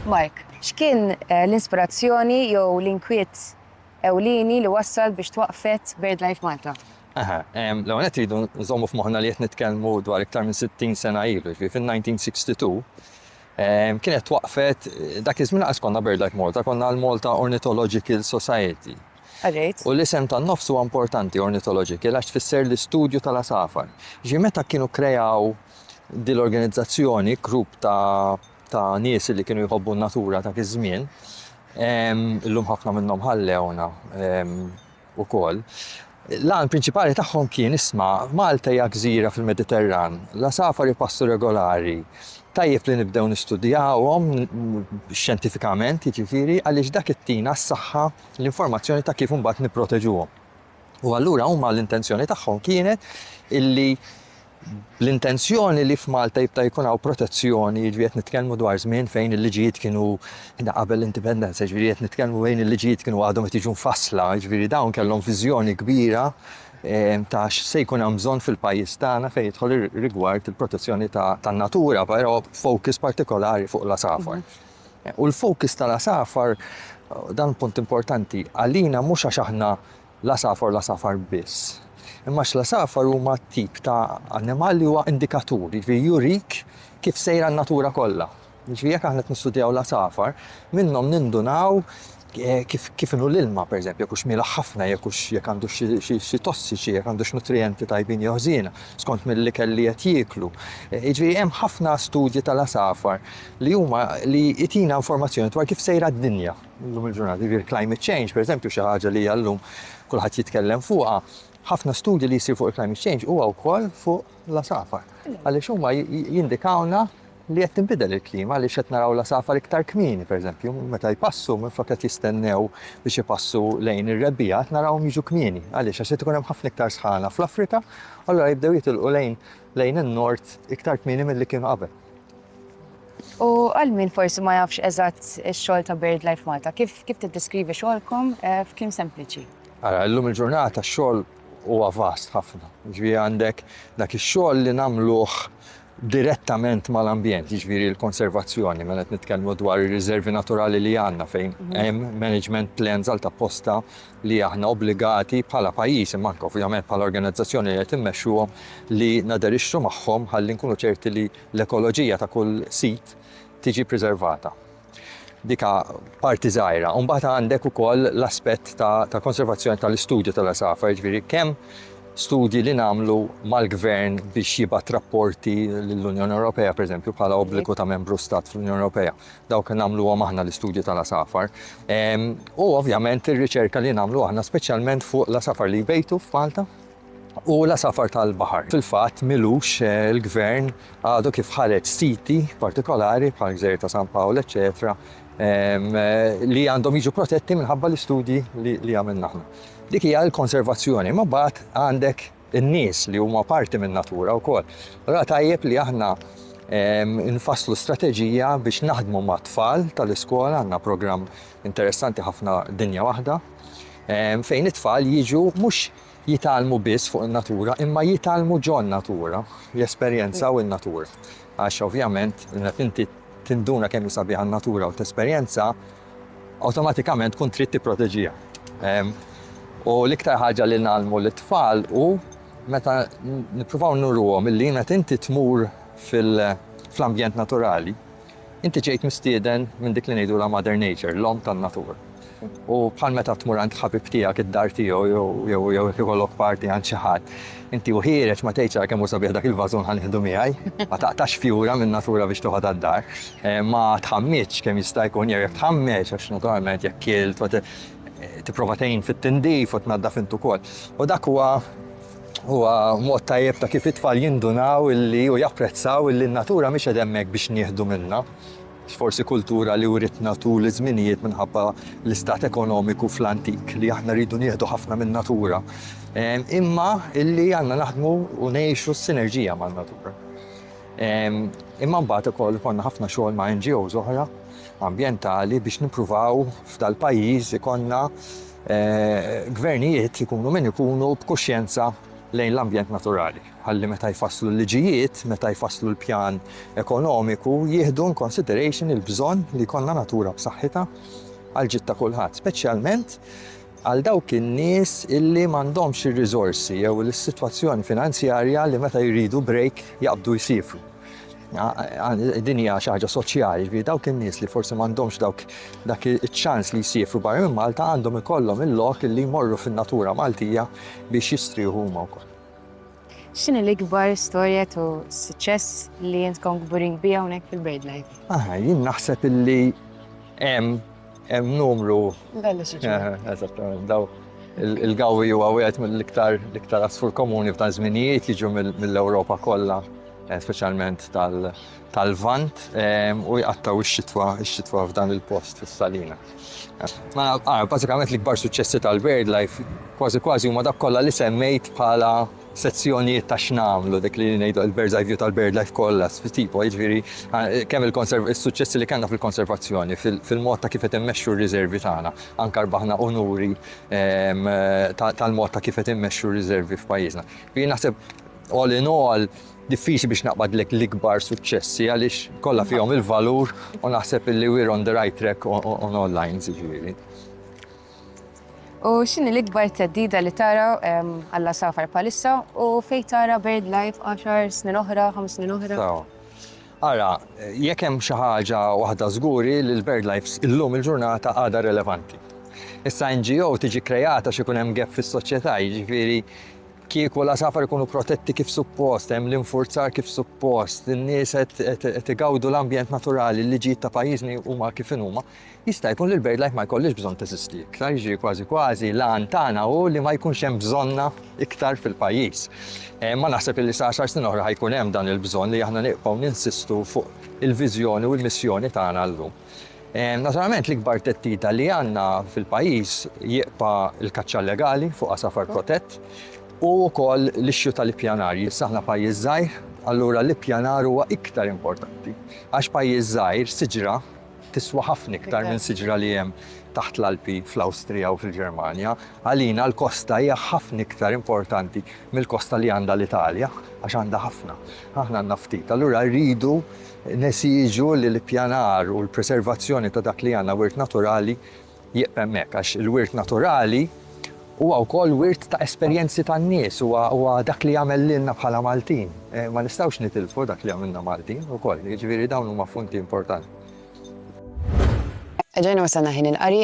Mark, x'kien eh, l-inspirazzjoni jew l-inkwiet ewlieni li wassal biex twaqfet BirdLife Malta? Aha, l-għu għet jridu nżommu f'moħna li jett nitkelmu dwar iktar minn 60 sena ilu, ġvi fil-1962, kienet waqfet, dak iż-żmien għas konna BirdLife Malta, konna l-Malta Ornithological Society. U l-isem tan-nofs huwa importanti, ornithological, għax tfisser l-istudju tal-għasafar. Ġifieri meta kienu kreaw din l-organizzazzjoni, grupp ta' ta' nies li kienu jħobbu n-natura dak iż-żmien, illum ħafna minnhom ħallewna ukoll, l-għan prinċipali tagħhom kien isma' Malta hija gżira fil-Mediterran, l-għasafar ipassu regolari, tajjeb li nibdew nistudjawhom, xjentifikament jiġifieri, għaliex dak ittina s-saħħa. l-informazzjoni ta' kif imbagħad nipproteġuhom. U allura huma l-intenzjoni tagħhom kienet illi l-intenzjoni li f'Malta jibta' jkun hawn protezzjoni, jiġri qed nitkellmu dwar żmien fejn il-liġijiet kienu qabel l-indipendenza, jiġri qed nitkellmu fejn il-liġijiet kienu għadhom qed jiġu mfassla, jiġri dawn kellhom viżjoni kbira ehm, ta' se jkun hemm bżonn fil-pajjiż tagħna fejn jidħol rigward il-protezzjoni tan-natura, però focus partikolari fuq l-asafar. Mhm. U l-focus tal-għasafar, dan punt importanti, għalina mhux għax aħna l-għasafar u l-għasafar biss, imma għax l-għasafar huma tip ta' annimal li huwa indikatur, jiġifieri jurik kif sejra n-natura kollha. Jiġifieri jekk aħna qed nistudjaw l-għasafar, minnhom nindunaw kif inhu l-ilma, pereżempju, jekk hux mielħ ħafna, jekk hux, jekk għandux xi tossiċi, jekk għandux nutrijenti tajbin jew ħżiena, skont mill-ikel li qed jieklu. Jiġifieri hemm ħafna studji tal-għasafar li huma, li jtina informazzjoni dwar kif sejra d-dinja llum il-ġurnata. Jiġifieri l-climate change, pereżempju, xi ħaġa li hija llum kulħadd jitkellem fuqha, ħafna studji li jsir fuq il-climate change huwa wkoll fuq l-għasafar. Għaliex huma jindikawlna li qed tinbidel il-klima għaliex qed naraw l-għasafar iktar kmieni, pereżempju, meta jpassu, minflok qed jistennew biex ipassu lejn ir-rebbiegħa, qed narawhom jiġu kmieni. Għaliex? Għax qed ikun hemm ħafna iktar sħana fl-Afrika, u allura jibdew jitilqu lejn lejn in-Nord iktar kmieni milli kienu qabel. U għal min forsi ma jafx eżatt ix-xogħol ta' BirdLife Malta, kif kif tiddeskrivi xogħolkom eh, f'kliem sempliċi? Ara, illum il-ġurnata x-xogħol huwa vast ħafna. Ġifieri għandek dak ix-xogħol li nagħmluh direttament mal-ambjent, jiġifieri l-konservazzjoni, mela qed nitkellmu dwar ir-riżervi naturali li għandna fejn hemm management plans għal ta' posta li aħna obbligati bħala pajjiż imma anke ovvjament bħala organizzazzjoni li qed immexxuhom li naderixxu magħhom ħalli nkunu ċerti li l-ekoloġija ta' kull sit tiġi priservata. Dika parti żgħira. U mbagħad għandek ukoll l-aspett ta' tal-konservazzjoni tal-istudju tal-għasafar, jiġifieri kemm studji li nagħmlu mal-gvern biex jibgħat rapporti lill-Unjoni Ewropea, pereżempju, bħala obbligu ta' membru stat fl-Unjoni Ewropea. Dawk nagħmluhom aħna l-istudji tal-għasafar. U ovvjament ir-riċerka li nagħmlu aħna speċjalment fuq l-għasafar li jbejtu f'Malta. u l-għasafar tal-baħar. Fil-fatt, m'ilux il-Gvern għadu kif ħareġ siti partikolari bħal Gżejjer ta' San Pawl eċċetera li għandhom jiġu protetti minħabba l-istudji li għamilna aħna. Dik hija l-konservazzjoni, imma mbagħad għandek in-nies li huma parti min-natura wkoll. Allura tajjeb li aħna nfasslu strateġija biex naħdmu ma' tfal tal-iskola, għandna programm interessanti ħafna dinja waħda, fejn it-tfal jiġu mhux jitgħallmu biss fuq in-natura imma jitgħallmu ġon-natura, jesperjenzaw in-natura. Għax ovvjament meta inti tinduna kemm hi sabiħa n-natura u tesperjenza, awtomatikament tkun trid tipproteġiha. U l-iktar ħaġa li ngħallmu lit-tfal hu meta nippruvaw nuruhom illi meta inti tmur fl-ambjent naturali, Inti ġejt mistieden minn dik li ngħidulha Mother Nature, l-omm tan-natura. U bħal meta tmur għand ħabib tiegħek id-dar tiegħu jew jew ikollok parti għand xi ħadd, inti u ħiereġ ma tgħidx ara kemm hu sabiħ dak il-vażun ħa nieħdu miegħi, ma taqtax fjura min-natura biex toħod għad-dar, eh, ma tħammitx kemm jista' jkun jew jekk tħammeġ għax naturalment jekk kilt tipprova tgħin fit-tindif u tnaddaf int ukoll. U dak huwa Huwa mod tajjeb ta' kif it-tfal jindunaw illi u japprezzaw illi n-natura mhix qed hemmhekk biex nieħdu minnha. Forsi kultura li writna tul iż-żminijiet minħabba l-istat ekonomiku fl-antik li aħna rridu nieħdu ħafna min-natura, imma illi għandna naħdmu u ngħixu s-sinerġija man-natura. Imma mbagħad ukoll ikollna ħafna xogħol ma' NGOs oħra ambjentali biex nippruvaw f'dal-pajjiż ikollna Gvernijiet, ikunu min ikunu, b'kuxjenza lejn l-ambjent naturali, ħalli meta jfasslu l-liġijiet, meta jfasslu l-pjan ekonomiku, jieħdu in consideration il-bżonn li jkollna natura b'saħħitha għall-ġid ta' kulħadd, speċjalment għal dawk in-nies illi m'għandhomx ir-riżorsi jew is-sitwazzjoni finanzjarja li meta jridu break jaqbdu jsiefru. Din hija xi ħaġa soċjali, ġifieri dawk in-nies li forsi m'għandhomx dawk dak iċ-ċans li jsifru barra minn Malta għandhom ikollhom il-lok li jmorru fin-natura Maltija biex jistrieħu huma wkoll. X'inhi l-ikbar storja ta' suċċess li intkom kburin biha hawnhekk fil-BirdLife? Aha, jien naħseb illi hemm Hemm numru. Eżattament, daw il-gawwi huwa wieħed mill-iktar l-iktar asfur komuni f'dan żminijiet jiġu mill-Ewropa kollha, eh, speċjalment tal-Vant, ehm, u jqattaw ix-xitwa ix-xitwa f'dan il-post fis-Salina. Ma ah, bażikament l-ikbar suċċessi tal-BirdLife kważi kważi huma dak kollha li semmejt bħala sezzjonijiet ta' x'nagħmlu, dik li ngħidu il-bird's eye view tal-birdlife kollha, tipo, jiġifieri kemm is-suċċessi li kellna fil-konservazzjoni, fil-mod ta' kif qed immexxu r-riservi tagħna. Anke rbaħna unuri tal-mod ta' kif qed immexxu r-riservi f'pajjiżna. Jiena naħseb all in all diffiċli biex naqbadlek l-ikbar suċċessi għaliex kollha fihom il-valur u naħseb li we're on the right track on all lines jiġifieri. U x'inhi l-ikbar theddida li tara għall-għasafar bħalissa u fejn tara BirdLife għaxar snin oħra, ħames snin oħra? Sewa. Ara, jekk hemm xi ħaġa waħda żgur hi li l-BirdLife illum il-ġurnata għadha relevanti. Issa NGO tiġi kkreat għax ikun hemm gap fis-soċjetà, jiġifieri kieku l-għasafar ikunu protetti kif suppost, hemm l-infurzar kif suppost, in-nies qed igawdu l-ambjent naturali, l-liġijiet ta' pajjiżni huma kif inhuma, Jista' jkun li l-BirdLife ma jkollhiex bżonn teżisti iktar, jiġifieri kważi kważi l-għan tagħna hu li ma jkunx hemm bżonnha iktar fil-pajjiż. Ma naħseb illi sa għaxar snin oħra ħa jkun hemm dan il-bżonn li aħna nibqgħu ninsistu fuq il-viżjoni u l-missjoni tagħna llum. Naturalment l-ikbar theddida li għandna fil-pajjiż jibqa' l-kaċċa illegali fuq għasafar protett u wkoll l-issue tal-ippjanar. Issa aħna pajjiż żgħir, allura l-ippjanar huwa iktar importanti. Għax pajjiż żgħir, siġra, tiswa ħafna iktar minn siġra li hemm taħt l-Alpi fl-Awstrija jew fil-Ġermanja. Għalina l-kosta hija ħafna iktar importanti mill-kosta li għandha l-Italja, għax għandha ħafna. Aħna għandna ftit. Allura rridu nesiġu li l-ippjanar u l-preservazzjoni ta' dak li għandna wirt naturali, Jieqf hemmhekk, għax il-wirt naturali huwa wkoll wirt ta' esperjenzi tan-nies, huwa huwa dak li jagħmel lilna bħala Maltin. Ma nistgħux nitilfu dak li jagħmilna Maltin ukoll. Jiġifieri dawn huma punti importanti. Erġajna wasalna ħin il-qari.